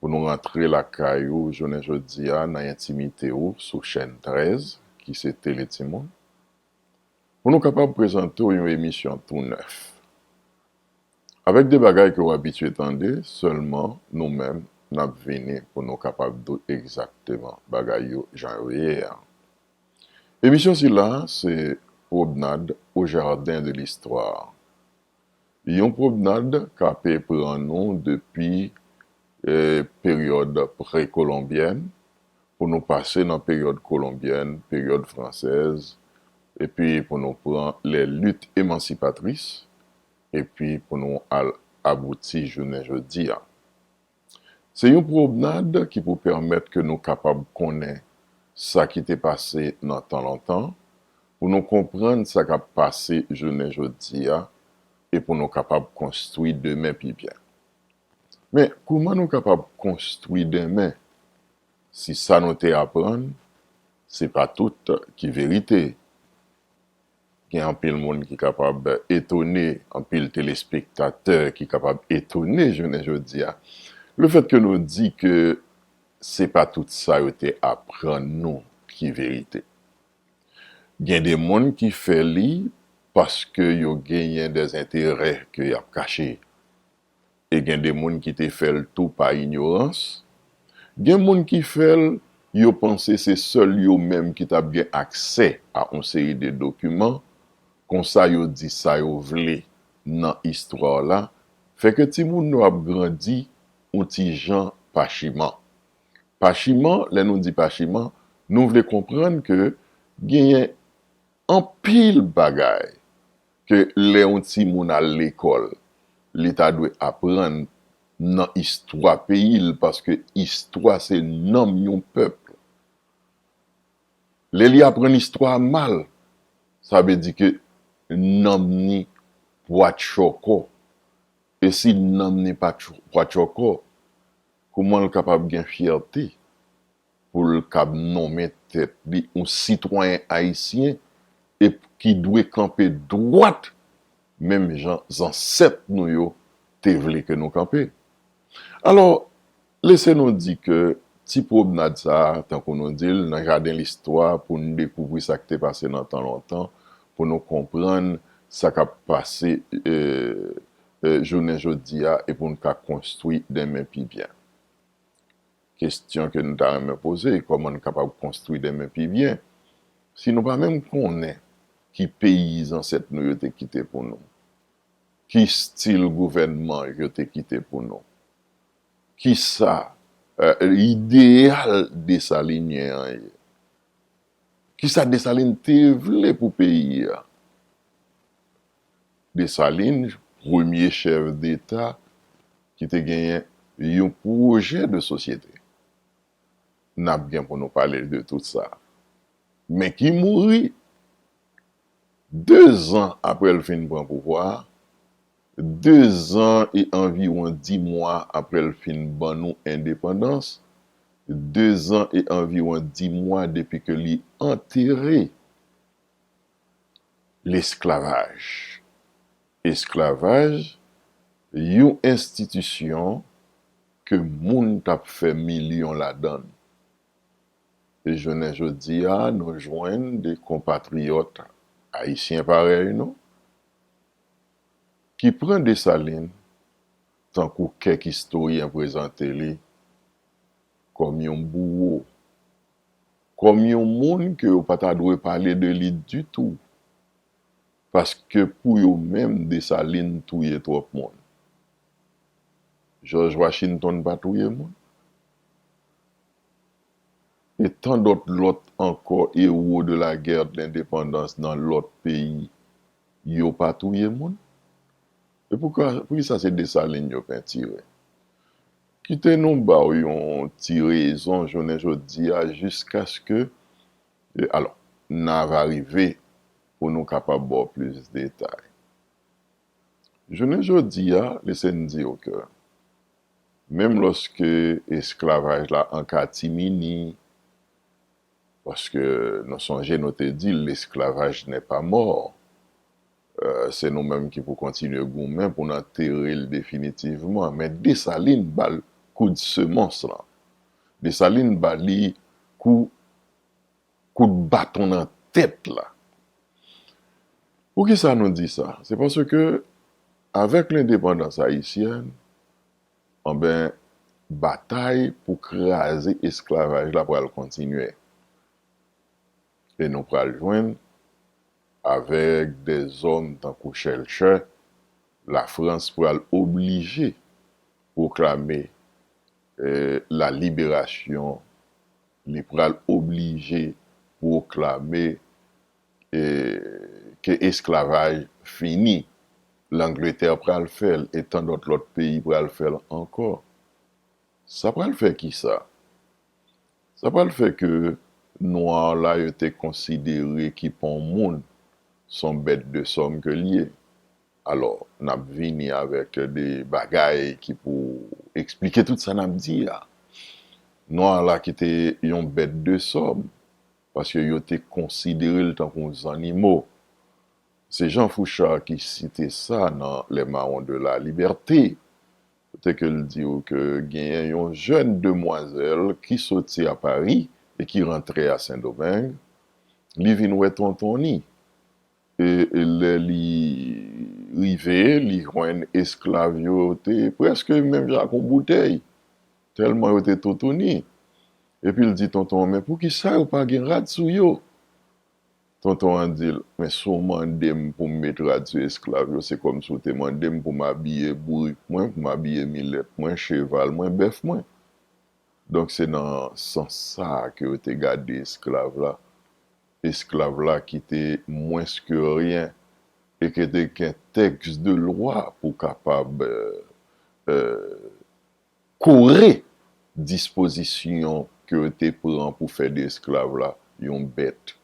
Pou nou rantre lakay ou jounen jodi a nan entimite ou sou chèn 13 ki se Tele Timoun. Pou nou kapab prezante w yon emisyon tou nèf. Avèk de bagay ke w abitye tande, sèlman nou menm n ap vini pou nou kapab di w egzakteman bagay yo jan yo ye a. Emisyon sila se Pwobnad o Jardin de l'Histoire. Yon pwomnad ka te pran nou depi peryòd prekolonbyèn pou nou pase nan peryòd kolonbyèn, peryòd fransèz, epi pou nou pran lè lit emansipatris, epi pou nou al abouti jounen jodi a. Se yon pwomnad ki pou pèmèt ke nou kapab konnen sa ki te pase nan tan lontan, pou nou konprann sa k ap pase jounen jodi a e pou nou kapab konstwi demen pi byen. Men, kouman nou kapab konstwi demen si sa nou te aprann se pa tout ki verite? gen anpil moun ki kapab etone, anpil telespektatè ki kapab etone jounen jodi a, lefètke nou di ke se pa tout sa yo te aprann nou ki verite. Gen de moun ki fè li paske yo genyen dèzenterè ke y ap kache. e gen de moun ki te fè l tou pa inyorans. Gen moun ki fè l, yo panse se sèl yo menm ki t ap gen aksè a on seri de dokiman, konsa yo di sa yo vle nan istwa la, fè ke timoun nou ap grandi on ti jan pachiman. Pachiman, lè nou di pachiman, nou vle konprann ke genyen Anpil bagay ke lè yon timoun al lekòl li ta dwe aprann nan istwa peyi l paske istwa se nanm yon pèp. Lè li aprann istwa a mal sa vle di ke nanm ni pwatchòkò e si nanm ni pwatchòkò kouman l kapab gen fyète? pou l kab nonmen tèt li yon sitwayen ayisyen e ki dwe kanpe dwat menm jan zansèt nou yo te vle ke nou kanpe. Alò, lese nou di ke ti pwomnad sa a, tankou nou di l, nan jaden listwa pou n dekouvri sa k te pase nan tan lontan, pou nou konprann sa k ap pase jounen jodi a e pou n ka konstwi denmen pi byen. Kestyon ke nou ta renmen poze, kòman nou kapab konstwi demen pi byen? Si nou pa menm konnen ki peyi zansèt nou yo te kite pou nou, ki stil gouvènman yo te kite pou nou, ki sa ideyal Desalinyen an ye, ki sa Desalin te vle pou peyi a, Dessalines, premye chèf deta ki te genyen yon pwojè de sosyete, n ap gen pou nou pale de tout sa, men ki mouri dezan apre l fin pran pouvwa a, dezan e anviwon dimwa apre l fin ban nou endepandans, dezan e anviwon dimwa depi ke li antere lesklavaj. Esklavaj, yon enstitisyon ke moun t ap fè milyon ladan l. E jounen jodi a, nou jwenn de konpatriyòt ayisyen parèy nou ki pran Desalin tankou kèk istoryen prezante li kòm yon bouwo kòm yon moun ke yo pa ta dwe pale de li ditou, paske pou yo menm Desalin touye twòp moun. Jòj Wachintonn pa touye moun? E tan dòt lòt ankò ewo de la gè de lendepandans nan lòt peyi, yo pa touye moun? E poukisa se Desalin yo pentire? Kite nou ba w yon ti rezon jounen jodi a jiskaske e alò, na va rive pou nou kapab ba w plis detay. Jounen jodi a, lese n di w ke menm lòske esklavaj la an katimini, paske nou sonje nou te di lesclavage n'est pas mort, Se nou menm ki pou kontinye goumen pou n antere l definitivman. Men Desalin ba l koud semons lan. Desalin ba li kou kout baton nan tèt la. Poukisa nou di sa? Se paske avèk lendepandans ayisyèn, anben batay pou kraze esklavaj la pral kontinye. e nou pral jwenn avèk dè zòm tankou Schellcher, la Frans pral oblije pwoklame la liberasyon, li pral oblije pwoklame ke esklavaj fini, Langletè pral fè l e tandòt lòt peyi pral fè l ankò. Sa pral fè kisa? Sa pral fè ke noir la yo te konsidere ki pa yon moun, son bèt de sòm ke li ye. Alò, nap vini avèk de bagay ki pou eksplike tout sa nap di a. Noir la ki te yon bèt de sòm, paske yo te konsidere l tankou yon zannimo. Se Jean Fouchard ki site sa nan Les Marrons de la Liberté. kote ke l di ou ke genyen yon jèn demwazèl ki soti a Pari e ki rantre a Sendomeng, li vin wè tonton ni. E lè li rive, li jwenn esklav yo te prèske menm jan ak yon boutèy, tèlman yo te toutouni. Epi l di tonton an, men poukisa yo pa gen rad sou yo? Tonton an di l, Men si w mande m pou m met rad sou esklav yo, se kòmsi w te mande m pou m abiye bourik mwen, pou m abiye milèt mwen, cheval mwen, bèf mwen. Donk se nan sans sa a ke yo te gade esklav la, esklav la ki te mwens ke ryen e ke te gen tèks de lwa pou kapab Kore dispozisyon ke yo te pran pou fè de esklav la yon bèt,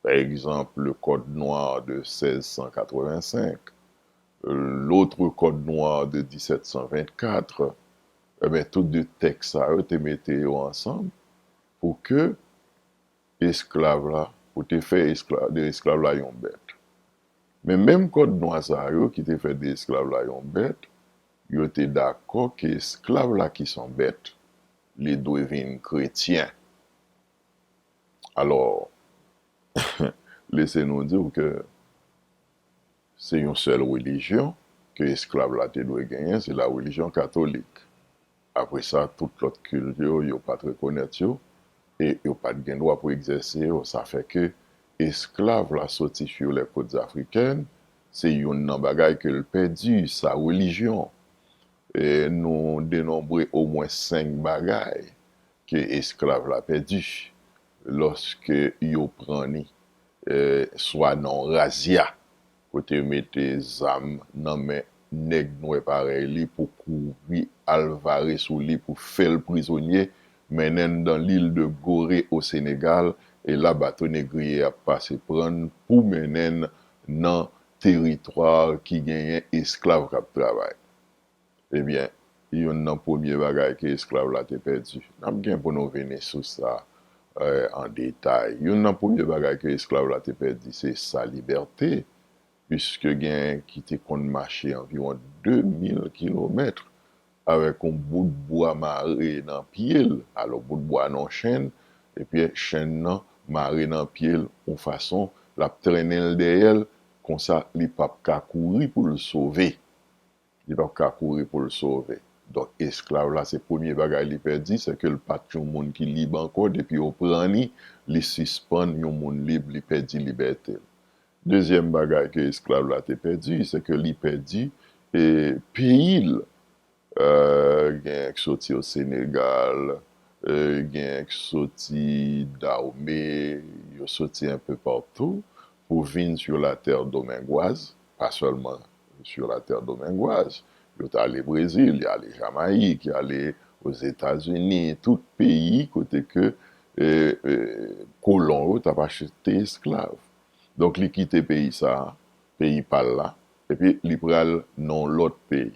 pa egzanp le Code noir de 1685, l'autre Code noir de 1724, enben tout de tèks sa yo te mete yo ansanm pou ke esklav la ou te fè de esklav la yon bèt. Men menm kòd nwa sa yo ki te fè de esklav la yon bèt, yo te dakò ke esklav la ki son bèt, li dwe vin kretyen. Alò, lese nou di ou ke se yon sèl relijyon ke esklav la te dwe genyen, se la relijyon katolik. Apre sa, tout lòt kilt yo, yo pa t rekonèt yo, e yo pa t gen dwa pou egzèse yo. Sa fè ke esklav la soti sur les côtes africaines, se youn nan bagay ke l pèdi, sa relijyon. E nou denonbre omwen senk bagay ke esklav la pèdi lòske yo pran ni, swa nan yon razya. kote yo mete zam nan men nèg nwè parèy li pou kouri al vare sou li pou fè l prizonye, mennen n dan lil de Gore o Senegal, e la bato negriye a pase pran n pou mennen n nan teritwa ki genyen esklav k ap travay. Ebyen, youn nan premye bagay ke esklav la te pèdi, n ap gen pou nou vini sou sa an detay, youn nan premye bagay ke esklav la te pèdi se sa libète, piske gen ki te konn mache anviwon 2000 kilomèt avèk yon bout bwa mare nan pye l, alò bout bwa nan yon chenn, epi chenn nan mare nan pye l yon fason, l ap trennen l dèyè l, konsa li p ap ka kouri pou l sove. li pap ka kouri pou l sove. Donk esklav la se premye bagay li pèdi, se ke l pa t yon moun ki lib ankò, depi yo pran li, li sispann yon moun lib, li pèdi libète l. Dezyèm bagay ke esklav la te pèdi, se ke li pèdi peyi l, genyen k soti o Senegal, genyen k soti Dawme, yo soti enpe patou, pou vin sur la terre domingoise, pa sèlman sur la terre domingoise, yo t ale Brezil, y ale Jamayik, y ale Ozetazini, tout peyi kote ke kolon yo t ap achte esklav. Donk li kite peyi sa a, peyi pa l la, epi li pral nan yon lòt peyi.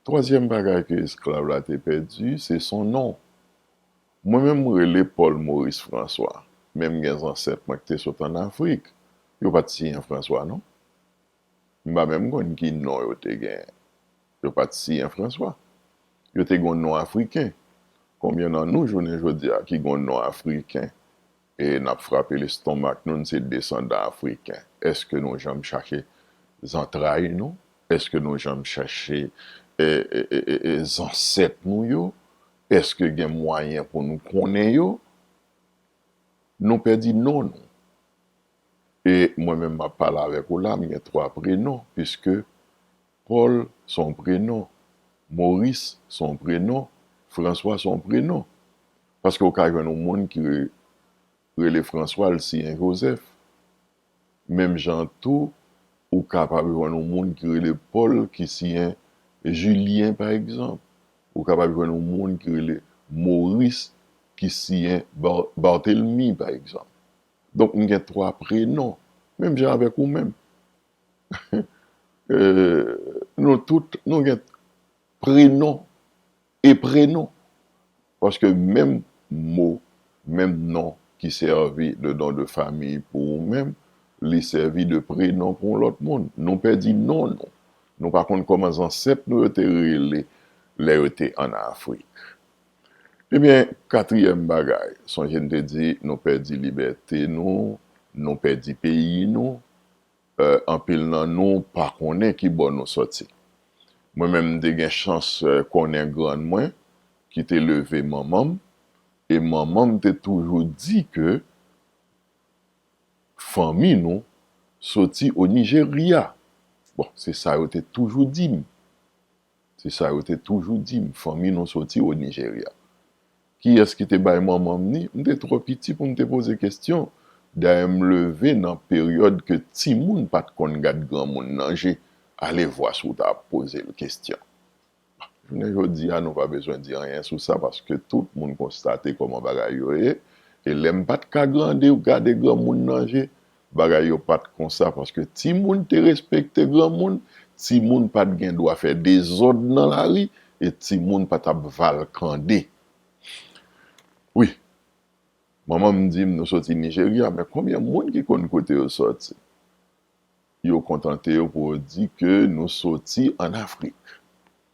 Twazyèm bagay ke esklav la te pèdi, se son non. Mwen menm m rele Paul Maurice François, men m gen zansèt mwen k te sot an Afrik, yo pa t siyen François non. M pa menm konn ki non yo te genyen. Yo pa t siyen François. Yo te gen yon non afriken. Konbyen nan nou jounen jodi a ki gen yon non afriken e n ap frape lestonmak nou n se desandan afriken? Èske nou janm chache zantray nou? Èske nou janm chache zansèt nou yo? Eske gen mwayen pou nou konnen yo? Nou pèdi non nou. E mwen menm m ap pale avèk ou la, m gen twa prenon, piske Pòl s on prenon, Moris s on prenon, Franswa s on prenon. Paske ou ka jwenn yon moun ki rele Franswa, l siyen Jozèf. Menm jan an tou, ou kapab jwenn yon moun ki rele Pòl ki siyen Jilyen pa egzanp. Ou kapab jwenn yon moun ki rele Moris ki siyen Bartelmi pa egzanp. Donk m gen twa prenon, menm jan avèk ou menm. Nou tout nou gen prenon E prenon, paske menm mo, menm non ki sèvi de non de famiy pou ou menm, li sèvi de prenon pou yon lòt moun. Nou pèdi non nou. Nou pa konn kòman zansèt nou yo te rele lè yo te ann Afrik. Ebyen, katriyèm bagay, sonje n te di nou pèdi libète nou, nou pèdi peyi nou. Anpil nan nou pa konnen ki bò nou sòti. Mwen menm m te gen chans konnen grann mwen ki te leve manman m e manman m te toujou di ke fanmi nou soti o Nijerya. Bon, se sa yo te toujou di m. Se sa yo te toujou di m, fanmi nou soti o Nijerya. Kiyès ki te bay manman m ni? M te twò piti pou m te poze kestyon. Dayè m leve nan peryòd ke timoun pa t konn gad granmoun nan je, alevwa si w ta ap poze l kestyon. Jounen jodi a nou pa bezwen di anyen sou sa paske tout moun konstate kòman bagay yo ye e lè m pa t ka grande gade granmoun nan je, Bagay yo pa t konsa paske timoun te respekte granmoun, timoun pa t gen dwa fè dezòd nan lari e timoun pa t ap valkande. Wi, manman m di m nou soti Nijerya, men konbyen moun ki konn kote yo soti? Yo kontante yo pou yo di ke nou soti ann Afrik.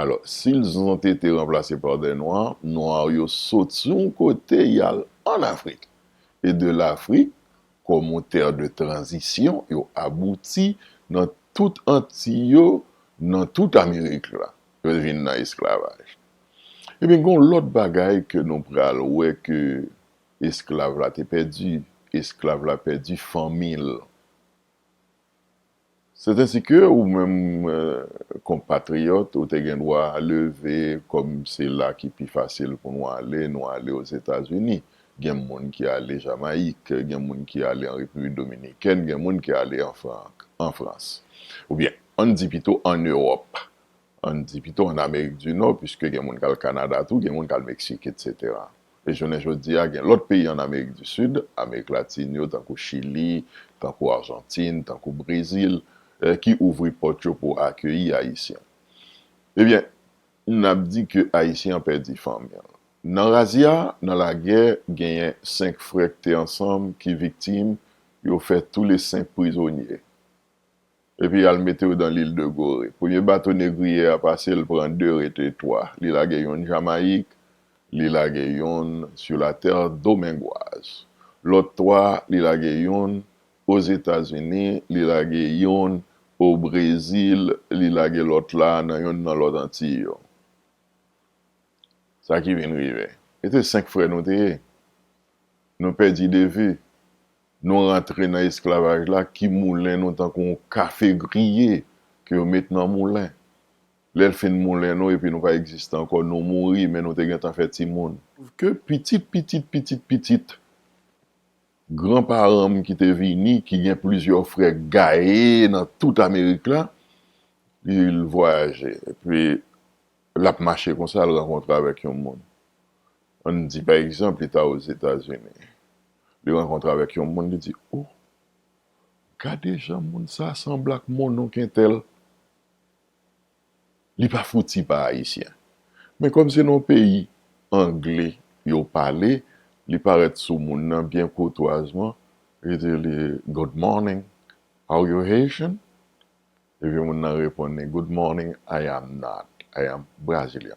Alò, si lzante te ranplase pa dè nwa, nwa yo sot sou yon kote y al ann Afrik. E de Lafrik, kòm yon tè de tranzisyon, yo abouti nan tout Antiy yo, nan tout Amerik la. Yo vin nan esklavaj. Ebyen, gen yon lòt bagay ke nou pral wè ke esklav la te pèdi. Esklav la pèdi fanmi l. C'est ainsi que ou menm konpatriyòt ou te gen dwa leve kòm se la ki pi fasil pou nou ale, nou ale Ozetazini. Gen moun ki ale Jamayik, gen moun ki ale an Repiblik Dominikèn, gen moun ki ale an Frans. Oubyen, ann di pito ann Ewòp. an n di pito an Amerik di Nò, piske gen moun k al Kanada tou, gen moun k al Meksik, etsetera. E jounen jodi a, gen lòt peyi an Amerik di Sid, Amerik Latin yo, tankou Chili, tankou Arjantin, tankou Brezil, ki ouvri pòt yo pou akeyi Ayisyen. Ebyen, n ap di ke Ayisyen an pèdi fanmi l. Nan razia, nan lagè, genyen senk frè k te ansanm ki viktim, yo fè toule senk prizonye. Epi y al mete yo dan lil de Gore. Premye bato negriye a pase, l pran de, rete twa. Li lage yonn Jamayik, li lage yonn sur la terre domengoise. Lòt twa, li lage yonn Ozetazini, li lage yonn o Brezil, li lage lòt la nan yonn nan lòt Antiy yo. Sa ki vin rive. E te senk frè nou te ye. Nou pèdi de vu. nou rantre nan esklavaj la ki moulen nou tankou yon kafe griye ke yo met nan moulen. Lè l fin moulen nou epi nou pa egziste ankò, nou mouri men nou te gentan fè timoun. Ke pitit pitit pitit pitit gran paran m ki te vini, ki gen plizyè frè gaye nan tout Amerik la, li l vwayaje. Epi l ap mache konsa, l rankontre avèk yon moun. An n di pa egzanp li ta Ozetazini. Li rankontre avèk yon moun, li di, O! Gade jan moun sa a sanble ak monnonk entèl. Li pa fouti pa Ayisyen. Men kòm se nan yon peyi angle yo pale, li parèt sou moun nan byen koutwazman, li di li, Good morning, are you Haitian? Epi moun nan reponn li, Good morning, I am not, I am Brazilian.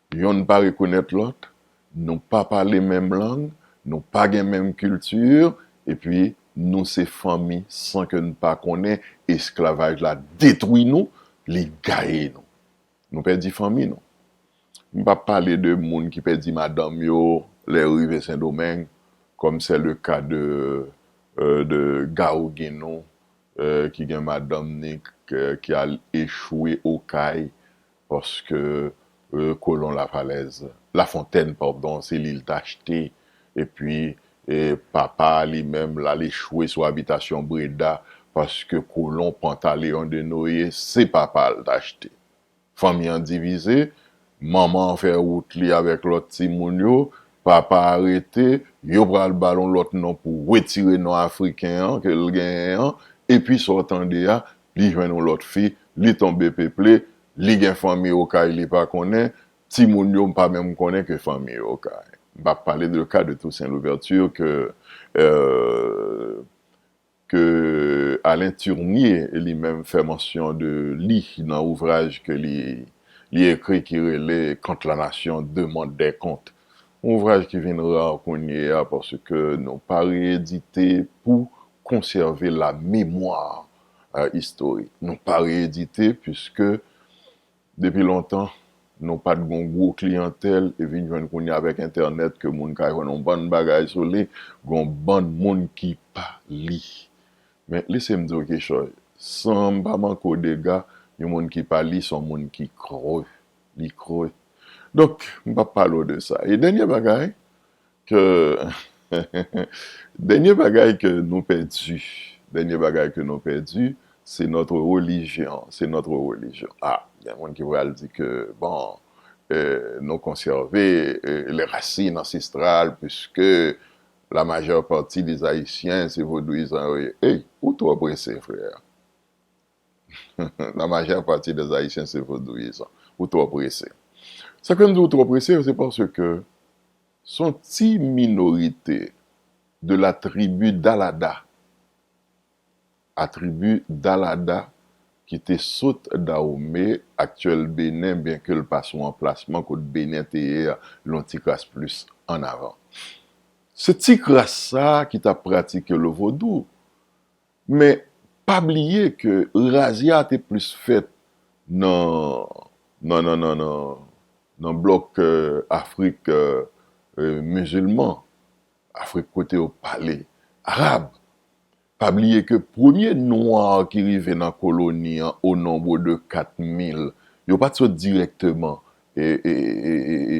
Yonn pa rekonèt lòt, nou pa pale menm lang, nou pa gen menm kilti, epi nou se fanmi san ke n pa konnen, esklavaj la detwi nou, li gaye nou. Nou pèdi fanmi nou. M pa pale de moun ki pèdi madanm yo lè yo rive Sendomeng, kòm sè le ka de de Gao Ginou ki gen madanm ni ki al echwe Okay paske kolon Lafalèz, Lafontèn padon, se li l t achte epi papa a li menm l al echwe sou abitasyon Breda paske kolon Pantaleyon de Noye se papa l t achte. Fanmi an divize, manman an fè wout li avèk lòt timoun yo, papa a rete, yo pral ba l yon lòt non pou wetire non afriken an ke l genyen an epi sa w tande a li jwenn yon lòt fi, li tonbe peple, li gen fanmi okay li pa konnen, timoun yo m pa menm konnen ke fanmi yo okay. M pa pale de ka de Toussaint Louverture ke ke Alain Turnier li menm fè mansyon de li nan ouvraj ke li li ekri ki rele Quand la nation demande des comptes. Yon ouvraj ki vin rar kounyeya paske nou pa re-edite pou konsève la memwa istorik. Nou pa re-edite piske depi lontan nou pa t gon gwo kliyantèl e vin jwenn kounye a avèk entènèt ke moun ka jwenn yon bann bagay sou li, gon bann moun ki pa li. Men lese m di w kichòy, san m pa manke w dega, yon moun ki pa li son moun ki kre, li kre. Donk m pa p pale w de sa. E dènye bagay, Ke Dènye bagay ke nou pèdi Dènye bagay ke nou pèdi Se notre religion Se notre religion A gen moun ki pral di ke bon E nou konsève E les racines ancestrales Puiske la majeure partie des Haïtiens se vodouyizan yo ye Ey ou twò prese frè La majeure partie des haïtiens se vodouyizan. Ou twò prese. Sak fè m di w twò prese se paske s on ti minorite de la tribu dalada a tribu dalada ki te sot Dawome, aktyèl Benen byen ke l pa sou anplasman kot Benen te ye a l yon ti kras plis ann avan. Se ti kras sa ki t ap pratike le vodou. Men, pa bliye ke razia a te plis fèt nan nan nan nan nan nan blòk Afrik mizilman, Afrik kote yo pale arab. Pa bliye ke premye nwa ki rive nan koloni an o nombre de 4 mil, yo pa t sot dirèkteman e e e e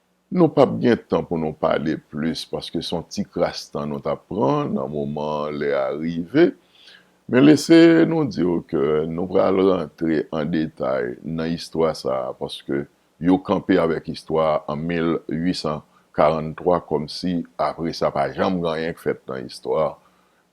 Nou pap gen tan pou nou pale plis paske son ti kras tan nou tap pran nan moman an lè a rive men lese nou di w ke nou pral rantre an detay nan istwa sa a paske yo kanpe avèk istwa a an 1843 kòm si apre sa pa janm gen anyen k fèt nan istwa a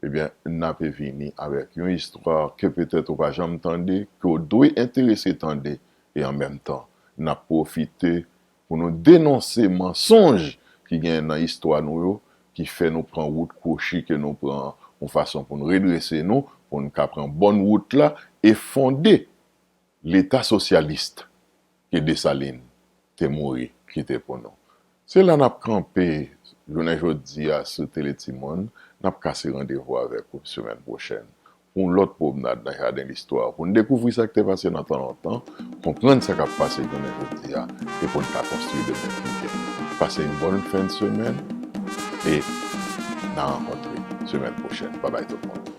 ebyen nape vini avèk yon istwa ke petèt ou pa janm tande ke w dwe enterese tande e an menm tan nap pwofite Pou nou denonse mansonj ki gen nan istwa nou yo, ki fè nou pran wout kwochi ke nou pran an, yon fason pou n redrese nou, pou n ka pran bòn wout la e fonde Leta sosyalist ke Dessalines te mouri kite pou nou. Se la n ap kanpe jounen jodi a sou Tele Timoun. N ap kase randevou avèk ou semèn pwochèn pou yon lòt pwomnad nan jaden listwa, pou n dekouvri sa k te pase nan tan lontan, konprann sa k ap pase jounen jodi a e pou n ka konstwi demen pi byen. Pase yon bòn fen de semèn e n a rankontre semèn pwochèn. Babay tout moun!